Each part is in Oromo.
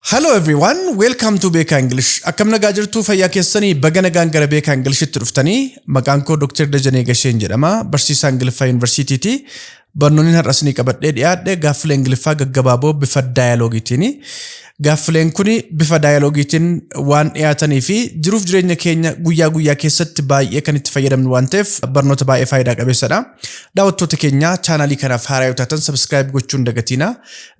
Hello everyone, welcome to Beekaa English. Akkam nagaa jirtuu fayyaa keessanii baga nagaan gara Beekaa Ingilishtti dhuftanii maqaan koo Dr. Dajanee Gasheen jedhama. Barsiisaa Ingiliffaa Yuunivarsiitiiti. Barnoonni har'a isinii qabadhee dhiyaadhe gaaffilee Ingiliffaa gaggabaaboo bifa daayaloogiitiini. Gaaffileen kun bifa daayaloogiitiin waan dhiyaatanii fi jiruuf jireenya keenya guyyaa guyyaa keessatti baay'ee kan itti fayyadamnu waan ta'eef barnoota baay'ee faayidaa qabeessadha. Daawwattoota keenya chaanaalii kanaaf haaraa yoo taatan sabiskiraayib gochuun dagatiina.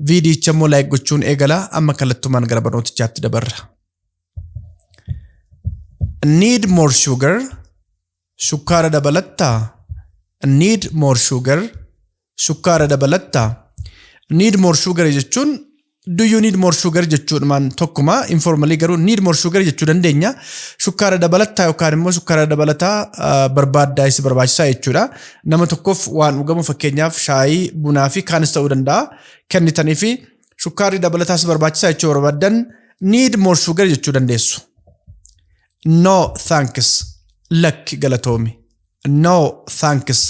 Viidiyicha immoo like gochuun eegala amma kallattumaan gara barnootichaatti dabarra. Need more sugar shukkaara dabalattaa need more sugar shukkaara dabalattaa need more sugar jechuun do you need more sugar jechuudhumaan tokkuma informalii garuu need more sugar jechuu dandeenya shukkaara dabalattaa yookaan immoo shukkaara dabalataa ah, barbaaddaa isa barbaachisaa jechuudha Nama tokkoof waan dhugamu fakkeenyaaf shaayii, bunaa fi kaanis ta'uu danda'a kennitanii fi shukkaarri dabalataa si barbaachisaa jechuu barbaaddan need more sugar jechuu dandeessu. No thanks lakki galatoomi. No thanks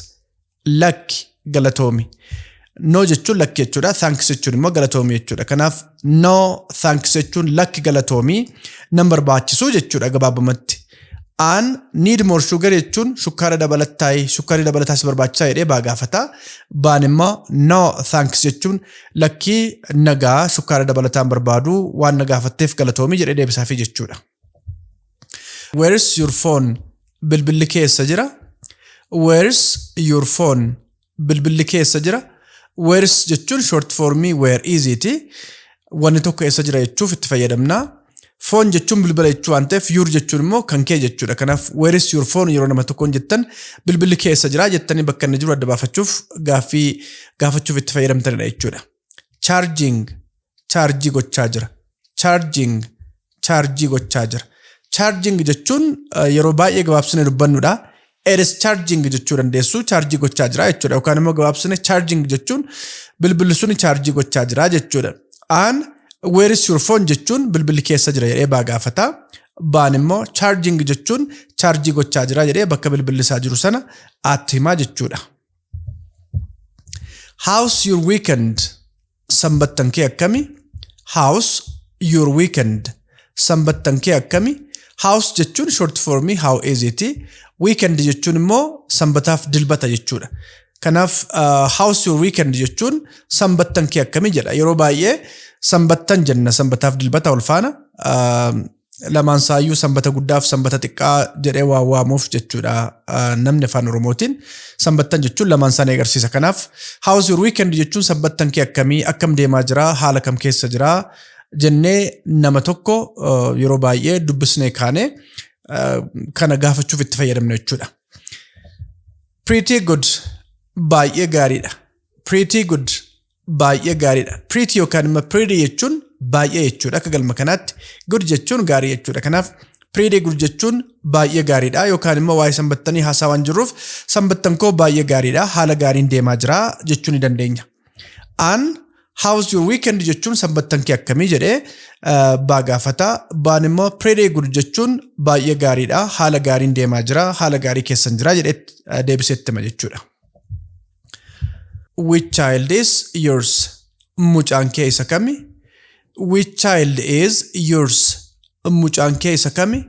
lakki galatoomi. No jechuun lakki jechuudha. Thanks jechuun immoo galatoomi jechuudha. Kanaaf no thanks jechuun lakki galatoomi nan barbaachisu jechuudha gabaabumatti. An need more sugar jechuun shukkaara dabalataay shukkaarri dabalataas barbaachisaa jedhee baa gaafata. Baan immoo no thanks jechuun lakkii nagaa shukkaara dabalataan barbaadu waan na gaafatteef galatoomi jedhee deebisaafi jechuudha. Where is your phone? Bilbilli keessa jira. Where is your phone? bilbilli kee eessa jira? Where's jechuun short formii where is ti. Wanni tokko eessa jira jechuuf itti fayyadamna. Foon jechuun bilbila jechuu waan ta'eef yuur jechuun immoo kan kee jechuudha. Kanaaf where's your phone yeroo nama tokkoon jettan bilbilli kee eessa jira jettanii bakka inni jiru adda baafachuuf gaaffii gaafachuuf itti fayyadamtanidha jechuudha. charging chaarjii gochaa jira charging chaarjii gochaa jira charging jechuun eh, yeroo baay'ee gabaabsine dubbannudha it is charging jechuu dandeessu chaarjii gochaa jira jechuudha yookaan immoo gabaabsine charging jechuun bilbilli suni chaarjii gochaa jira jechuudha aan where is your phone jechuun bilbilli keessa jira jedhee baa gaafata baan immoo charging jechuun chaarjii gochaa jira jedhee bakka bilbilli isaa jiru sana aatti himaa jechuudha How's your weekend? Sanbattan kee akkami? How's your weekend? Sanbattan kee akkami? How's jechuun short formii how is it? Weekend jechuun immoo sanbataaf dilbata jechuudha. Kanaaf uh, how's your weekend jechuun sanbattan kee akkami jedha. Yeroo baay'ee sanbattan jenna sanbataaf dilbata wal faana. Uh, lamaan saayyuu sanbata guddaaf sanbata xiqqaa jedhee waa waamuuf jechuudha namni afaan oromootiin sanbattan jechuun lamaan isaanii agarsiisa kanaaf house your weekend jechuun sanbattan kee akkamii akkam deemaa jira haala kam keessa jira jennee nama tokko yeroo baay'ee dubbisnee kaane kana gaafachuuf itti fayyadamna jechuudha. Pretty good baay'ee gaariidha. Pretty good baay'ee gaariidha. Pretty yookaan immoo pretty jechuun baay'ee jechuudha. Akka galma kanaatti good jechuun gaarii jechuudha. Kanaaf pretty good jechuun baay'ee gaariidha yookaan immoo waa'ee sanbattanii haasaa waan jirruuf sanbattan koo baay'ee gaariidha haala gaariin deemaa jira jechuu ni dandeenya. An how's your weekend jechuun sanbattan kee akkamii jedhee eh, baa gaafata. Baan immoo pretty good jechuun baay'ee gaariidha haala gaariin deemaa jira haala gaarii keessan jira jedhee eh, deebisee itti hima jechuudha. Which child is yours? Mucaan kee isa kami? Which child is yours? Mucaan kee isa kami?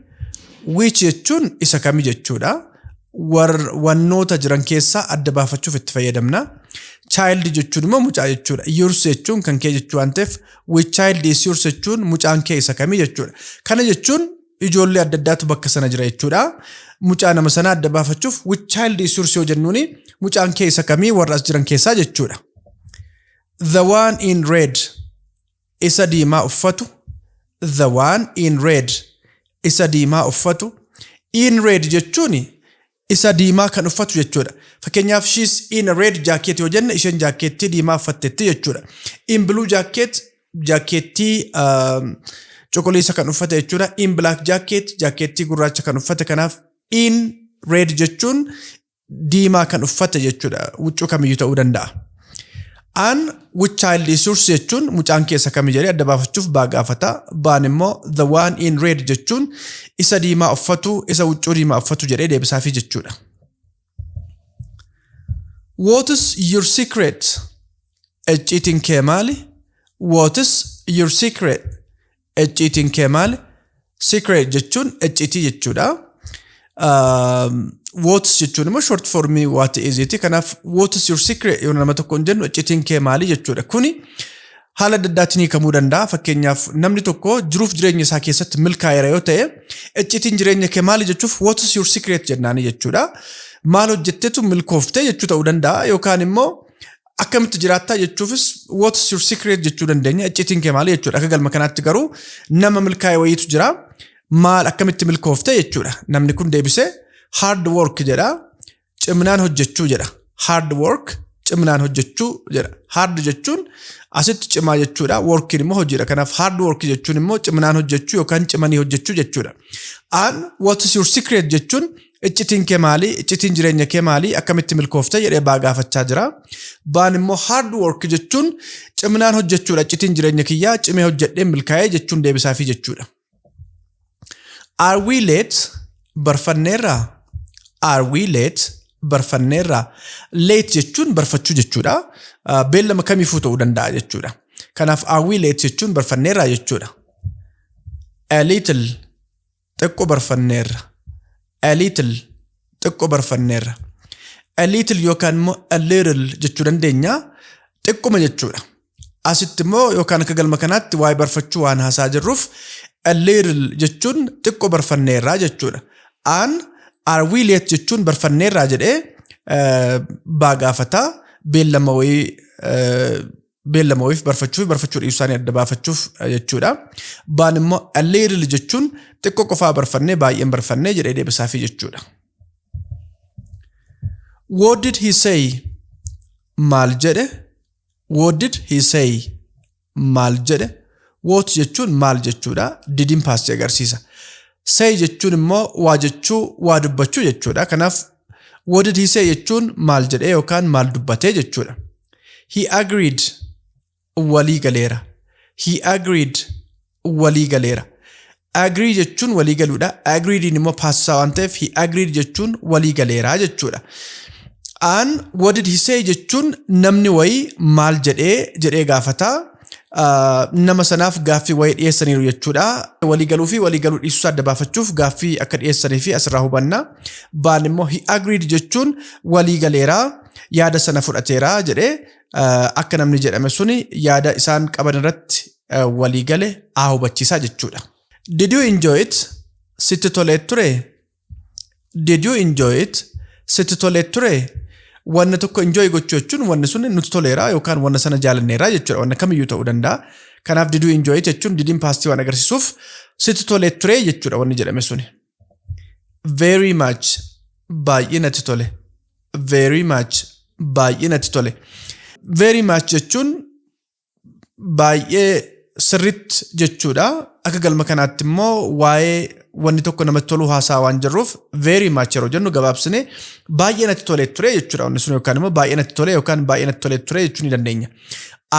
Which jechuun isa kami jechuudha. War, wannoota jiran keessaa adda baafachuuf itti fayyadamna. Child jechuun immoo mucaa jechuudha. Yours jechuun kan kee jechuu waan ta'eef which child is yours jechuun mucaan kee isa kami jechuudha. Kana jechuun ijoollee adda addaatu bakka sana jira jechuudha. Mucaa nama sana adda baafachuuf which child is yours yoo jennuun mucaan kee isa kamii warra as jiran keessaa jechuudha. The one in red isa diimaa uffatu the one in red isa diimaa uffatu in red jechuun isa diimaa kan uffatu jechuudha. Fakkeenyaaf she's in a red jacket yoo jenne isheen jaakkeettii diimaa uffatteetti jechuudha. In blue jacket jaakkeettii um, cuquliisa kan uffate jechuudha. In black jacket jaakkeettii gurraacha kan uffate kanaaf in red jechuun diimaa kan uffate jechuudha. Huccuu kamiyyuu ta'uu danda'a. An with child is yours jechuun mucaan kee isa kami jedhee adda baafachuuf baa gaafata. Baan immoo the one in red jechuun isa diimaa uffatu isa huccuu diimaa uffatu jedhee deebisaafii jechuudha. What is your secret? Icciitiin kee maali? What is your secret? Icciitiin kee maali? Secret jechuun icciitii jechuudha. Wootis jechuun immoo short formii waati iziiti. Kanaaf wootis your secret yoo nama tokkoon jennu icciitiin kee maali jechuudha. Kuni haala adda addaatiin hiikamuu danda'a. Fakkeenyaaf namni tokko jiruuf jireenya isaa keessatti milkaa'eera yoo ta'e icciitiin jireenya kee maali jechuuf wootis your secret jennaani jechuudha. Maal hojjettetu milkoofte jechuu ta'uu danda'a yookaan immoo akkamitti jiraattaa jechuufis what's your secret jechuu dandeenya iccitiin kee maali jechuudha akka galma kanaatti garuu nama milkaa'e wayiitu jira maal akkamitti milkoofte jechuudha namni kun deebise hard work jedha cimnaan hojjechuu jedha hard work cimnaan hojjechuu jedha hard jechuun asitti cimaa jechuudha workiin immoo hojiidha kanaaf hard work jechuun immoo cimnaan hojjechuu yookaan cimanii hojjechuu jechuudha an what's your secret jechuun Iccitiin kee maali? Iccitiin jireenya kee maali? Akkamitti milkoofte jedhee baa gaafachaa jira. Baan immoo hard work jechuun ciminaan hojjechuudha. Iccitiin jireenya kiyyaa cimee hojjedhee milkaa'ee jechuun deebisaafii jechuudha. Are we late? Barfanneerraa? Are we late? Barfanneerraa? Late jechuun barfachuu jechuudha. Ah, Beellama kamiifuu ta'uu danda'a jechuudha. Kanaaf are we late jechuun barfanneerraa jechuudha. A little xiqqo barfanneerra. A little xiqqo barfanneerra. A little yookaan immoo a little jechuu dandeenya. Xiqquma jechuudha. Asitti immoo yookaan akka galma kanaatti waa'ee barfachuu waan haasaa jirruuf a little jechuun xiqqo barfanneerraa jechuudha. Aan are we late jechuun barfanneerraa jedhee eh, baa gaafata beellama wayii eh, beellama wayiif barfachuu fi barfachuu dhiisuu isaanii adda baafachuuf eh, jechuudha. Baan immoo a little jechuun xiqqoo qofaa barfannee baay'een barfannee jedhee deebisaafii jechuudha. What did he say? Maal jedhe? What did he say? Maal jedhe? What jechuun maal jechuudha? Didiin paastii agarsiisa. Say jechuun immoo waa jechuu, waa dubbachuu jechuudha. Kanaaf what did he say jechuun maal jedhee yookaan maal dubbatee jechuudha. He agreed walii galeera. He agreed walii galeera. Agree jechuun walii galuudha. Agreed immoo paasisaa waan ta'eef he agreed jechuun walii galeera jechuudha. An what did he say jechuun namni wayii maal jedhee jedhee gaafataa. nama sanaaf gaaffii wayii dhiyeessaniiru jechuudha. Walii galuu fi walii galuu dhiisuu isaa adda baafachuuf gaaffii akka dhiyeessanii fi asirraa hubanna. Baan immoo he agreed jechuun walii galeera yaada sana fudhateera jedhee akka namni jedhame suni yaada isaan qaban irratti walii gale haa hubachiisaa jechuudha. Did you enjoy it? Sitti tolee ture? Did you enjoy it? Sitti tolee ture? Wanna tokko enjoy gochuu jechuun wanni sun nutti toleera yookaan wanna sana jaalanneera jechuudha. Wanna kamiyyuu ta'uu danda'a. Kanaaf did you enjoy it jechuun didiin paastii waan agarsiisuuf sitti tolee ture jechuudha wanni jedhame suni. Very much baay'ee natti tole. Very much baay'ee natti tole. Very much jechuun baay'ee sirriitti jechuudha. Akka galma kanaatti immoo waa'ee wanni tokko namatti toluu haasaa waan jirruuf very much yeroo jennu gabaabsine baay'ee natti tolee ture jechuudha. Wanni sun yookaan immoo baay'ee natti tolee yookaan baay'ee natti tolee ture jechuu ni dandeenya.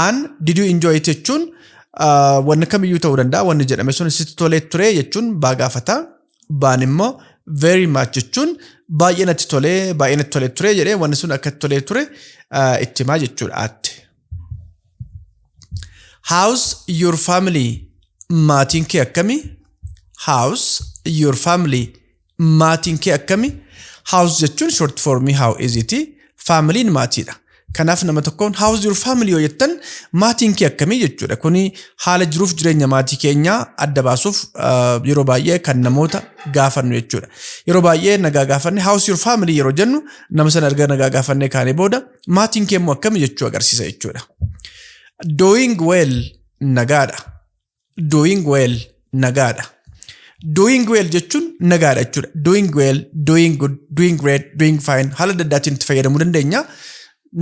An did you enjoy it jechuun ah, wanni kamiyyuu ta'uu danda'a wanni jedhame sun sitti tolee ture jechuun baa gaafata. Baan immoo very much jechuun baay'ee natti tolee baay'ee natti tolee ture jedhee wanni sun akka itti tolee ture ah, itti himaa jechuudha aatte. How's your family? Maatiin kee akkami? How's your family? Maatiin kee akkami? How's jechuun short formii how is it? Faamiliin maatiidha. Kanaaf nama tokkoon how's your family yoo jettan maatiin kee akkamii jechuudha. Kuni haala jiruuf jireenya maatii keenyaa adda baasuuf ah, yeroo baay'ee kan namoota gaafannu jechuudha. Yeroo baay'ee nagaa gaafanne how's your family yeroo jennu nama sana erga nagaa gaafannee kaanee booda Maatiin kee immoo akkami jechuu agarsiisa jechuudha. Doing well nagaadha. Doing well nagaadha. Doing well jechuun nagaadha jechuudha. Doing well, doing good, doing great, doing fine haala adda addaatiin itti fayyadamuu dandeenya.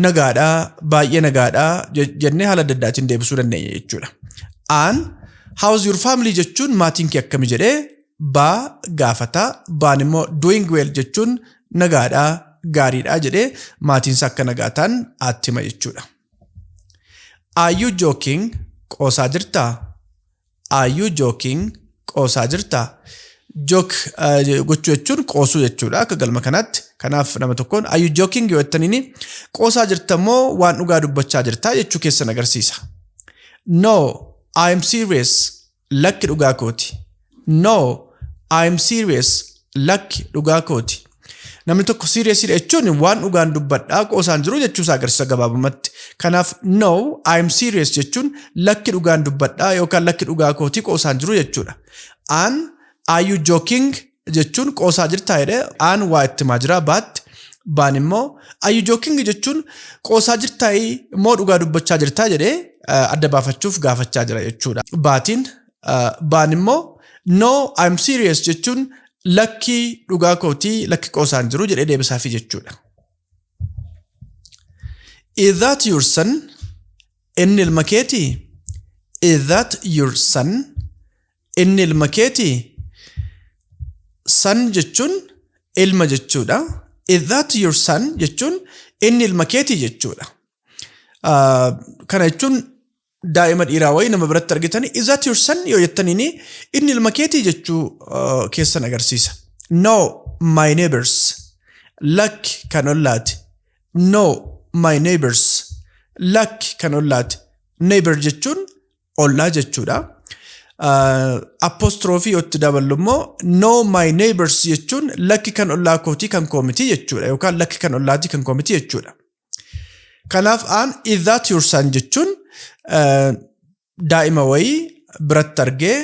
Nagaadha, baay'ee nagaadha je- jennee haala adda addaatiin deebisuu dandeenya jechuudha. An how's your family jechuun maatiin kee akkami jedhee baa gaafata. Baan immoo doing well jechuun nagaadha, gaariidha jedhee maatiinsa akka nagaa ta'an aatti hima jechuudha. Are you joking? Qoosaa jirtaa? Are you joking? Qoosaa jirtaa? Joke eh, gochuu jechuun qoosuu jechuudha akka galma kanaatti. Kanaaf nama tokkoon are you joking yoo jettaniini qoosaa jirta moo waan dhugaa dubbachaa jirtaa jechuu keessan agarsiisa. No, I am serious. Lakki dhugaa kooti. No, I'm serious. Lakki dhugaa kooti. Namni tokko serious dha jechuun waan dhugaan dubbadhaa qoosaan jiru jechuusaa agarsiisa gabaabumatti. Kanaaf no, I'm serious jechuun lakki dhugaan dubbadhaa yookaan lakki dhugaa kooti qoosaan jiru jechuudha. An, are you joking? jechuun qoosaa jirtaa jedhe aan waa itti himaa jira baatti baan immoo ayyu jookingi jechuun qoosaa jirtaayii immoo dhugaa dubbachaa jirtaa jedhe adda baafachuuf gaafachaa jira jechuudha baatiin baan immoo no I'm serious jechuun lakkii dhugaa kootii lakki qoosaan jiru jedhee deebisaafii jechuudha. Is that your son? Inni ilma keetii? Is that your son? Inni ilma keetii? Son jechuun ilma jechuudha. Is that your son jechuun inni ilma keetii jechuudha. Ah, Kana jechuun daa'ima dhiiraa wayii nama biratti argitan is that your son yoo jettaniin inni ilma keetii jechuu ah, keessan agarsiisa. No, my neighbors. Lakki kan ollaati. No, my neighbors. Lakki kan ollaati. Neighbor jechuun ollaa jechuudha. Apostrophe yoo itti daballu immoo no my neighbors jechuun lakki kan ollaa kootii kan koo miti jechuudha yookaan lakki kan ollaatii kan koo miti jechuudha. Kanaaf aan is that your son jechuun eh, daa'ima wayii biratti argee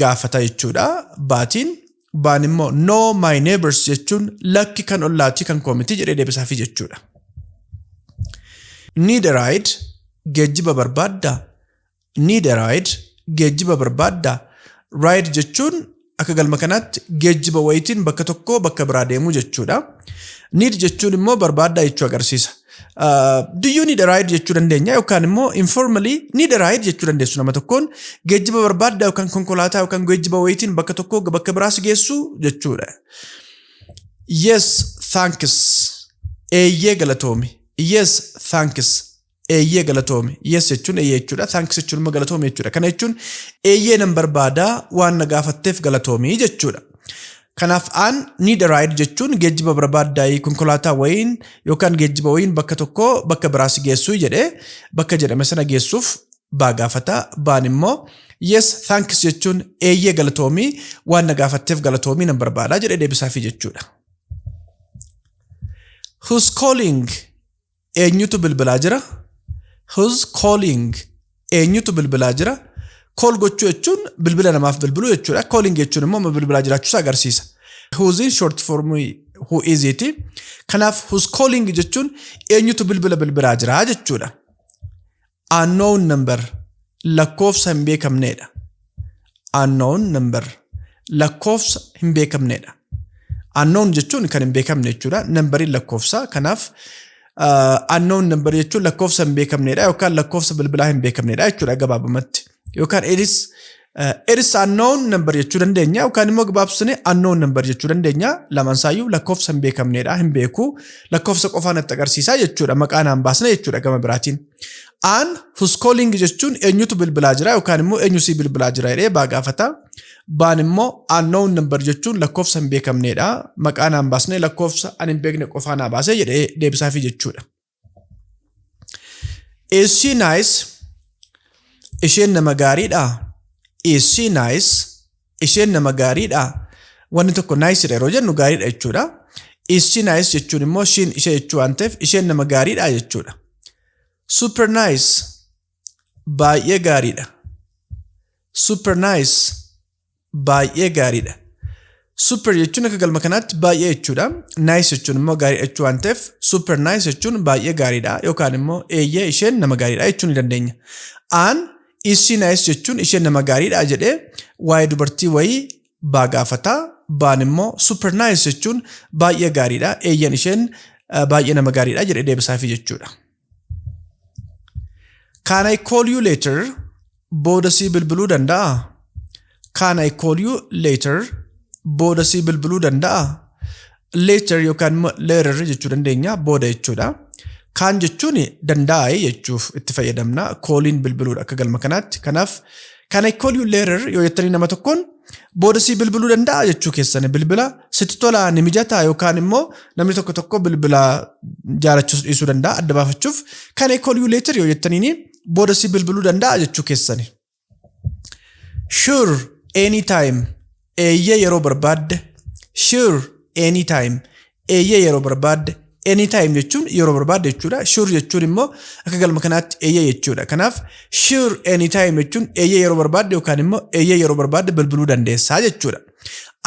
gaafata jechuudha baatiin. baan immoo no my neighbors jechuun lakki kan ollaatii kan koo miti jedhee deebisaafii jechuudha. Need a ride geejjiba barbaaddaa? Need a ride geejjiba barbaaddaa? Ride jechuun akka galma kanaatti geejjiba wayitiin bakka tokkoo bakka biraa deemuu jechuudha. Need jechuun immoo barbaaddaa jechuu agarsiisa. Do you need a ride jechuu dandeenya yookaan immoo informally need a ride jechuu dandeessu nama tokkoon geejjiba barbaadda yookaan konkolaataa yookaan geejjiba wayitiin bakka tokkoo bakka biraa si geessu jechuudha. Yes, thanks. Eeyyee galatoomi. Yes, thanks. Eeyyee galatoomi. Yes jechuun eeyyee jechuudha. Thanks jechuun immoo galatoomi jechuudha. Kana jechuun eeyyee nan barbaada waan na gaafatteef galatoomi jechuudha. Kanaaf an need a ride jechuun geejjiba barbaaddaayi konkolaataa wayiin yookaan geejjiba wayiin bakka tokkoo bakka biraa si geessui jedhee bakka jedhame sana geessuuf baa gaafata. Baan immoo yes thanks jechuun eeyyee galatoomii waan na gaafatteef galatoomii nan barbaada jedhee deebisaafii jechuudha. Who's calling? Eenyutu bilbilaa jira? Who's calling? Eenyutu bilbilaa jira? Call gochuu jechuun bilbila namaaf bilbiluu jechuudha. Calling jechuun immoo amma bilbilaa jiraachuu isaa agarsiisa. Who's'n short form who is it. Kanaaf who's calling jechuun eenyutu bilbila bilbilaa jira jechuudha. Unknown number lakkoofsa hin beekamneedha. Unknown number lakkoofsa hin beekamneedha. Unknown jechuun kan hin beekamne jechuudha. Nambariin lakkoofsa kanaaf uh, unknown number jechuun lakkoofsa hin beekamneedha yookaan lakkoofsa bilbilaa hin beekamneedha jechuudha gabaabumatti. yookaan edis edis unknown number jechuu dandeenya yookaan immoo gabaabsine unknown number jechuu dandeenya lamaan isaayyuu lakkoofsa hin beekamneedha hin beeku lakkoofsa qofaa natti agarsiisaa jechuudha maqaa naan baasne jechuudha gama biraatiin. Aan huskooling jechuun eenyutu bilbilaa jira yookaan immoo eenyu sii bilbilaa jira jedhee baa gaafata. Baan immoo unknown number jechuun lakkoofsa hin beekamneedha maqaa naan baasne lakkoofsa ani hin beekne qofaa naa baasee jedhee deebisaafii jechuudha. Is she nice? Isheen nama gaariidha. Is she nice? Isheen nama gaariidha. Wanni tokko nice dha yeroo jennu gaariidha jechuudha. Is she nice jechuun immoo ishiin ishee jechuu waan ta'eef isheen nama gaariidha jechuudha. Super nice. Baay'ee gaariidha. Super nice. baay'ee gaariidha. Super jechuun akka galma kanaatti baay'ee jechuudha. Nice jechuun immoo gaariidha jechuu waan ta'eef super nice jechuun baay'ee gaariidha yookaan immoo eeyyee isheen nama gaariidha jechuu ni dandeenya. Aan isii nice jechuun isheen nama gaariidha jedhee waa'ee dubartii wayii baa gaafataa baan immoo super nice jechuun baay'ee gaariidha eeyyan isheen baay'ee nama gaariidha jedhee deebisaafii jechuudha. Can I call you later? Booda sii bilbiluu danda'a? Can I call you later? Booda sii bilbiluu danda'a? Later yookaan immoo later jechuu dandeenya booda jechuudha. Kaan jechuun danda'a jechuuf itti fayyadamna. Kooliin bilbiluudha akka galma kanaatti. Kanaaf Can I call you later yoo jettanii nama tokkoon booda sii bilbiluu danda'a jechuu keessani bilbila sitti tolaa ni mijataa yookaan immoo namni tokko tokko bilbila jaalachuus dhiisuu danda'a adda baafachuuf can I call you later yoo jettaniin booda sii bilbiluu danda'a jechuu keessani. Sure, anytime. Eeyyee yeroo barbaadde Sure anytime Eeyyee yeroo barbaadde Anytime jechuun yeroo barbaadde jechuudha. Sure jechuun immoo akka galma kanaatti eeyyee jechuudha. Kanaaf sure anytime jechuun eeyyee yeroo barbaadde yookaan immoo eeyyee yeroo barbaadde bilbiluu dandeessaa jechuudha.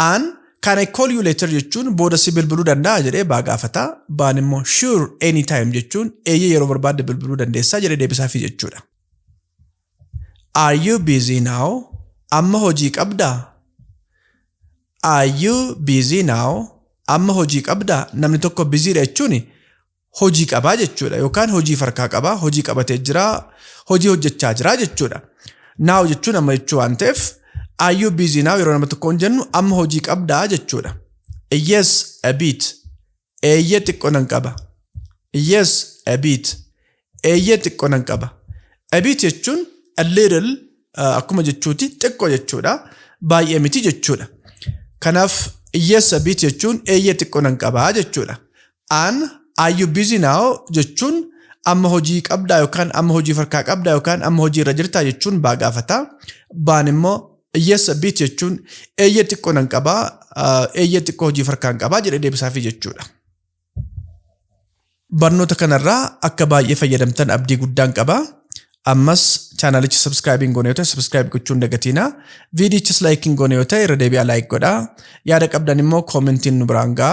Aan can I call you later jechuun booda si bilbiluu danda'a jedhee baa gaafata. Baan immoo sure anytime jechuun eeyyee yeroo barbaadde bilbiluu dandeessaa jedhee deebisaafii jechuudha. Are you busy now? Amma hojii qabdaa? Are you busy now? Amma hojii qabdaa? Namni tokko busy dha jechuun hojii qabaa jechuudha yookaan hojii farkaa qabaa, hojii qabatee jiraa, hojii hojjechaa jiraa jechuudha. Now jechuun amma jechuu waan ta'eef are you busy now yeroo nama tokkoon jennu amma hojii qabdaa jechuudha. Yes, a bit. Eeyyee xiqqoo nan qaba. Yes, a bit. Eeyyee xiqqoo nan qaba. A bit jechuun a little uh, akkuma jechuuti xiqqoo jechuudha. Baay'ee miti jechuudha. Kanaaf yes a bit jechuun eeyyee xiqqoo nan qaba jechuudha. An are you busy now jechuun amma hojii qabdaa yookaan amma hojii farkaa qabdaa yookaan amma hojii irra jirtaa jechuun baa gaafata. Baan immoo Eyyessa, bit, jechuun eeyyee xiqqoo nan qaba, eeyyee xiqqoo hojii farkaan qaba jedhee deebisaafii jechuudha. Barnoota kanarraa akka baay'ee fayyadamtan abdii guddaan qaba. Ammas chaanaalicha sabskraayibiin goone yoo ta'e sabskraayib gochuun dagatiina. Viidiyichis laayikiin goone yoo ta'e irra deebi'aa laayik godhaa. Yaada qabdan immoo koomentiin nu biraan ga'a.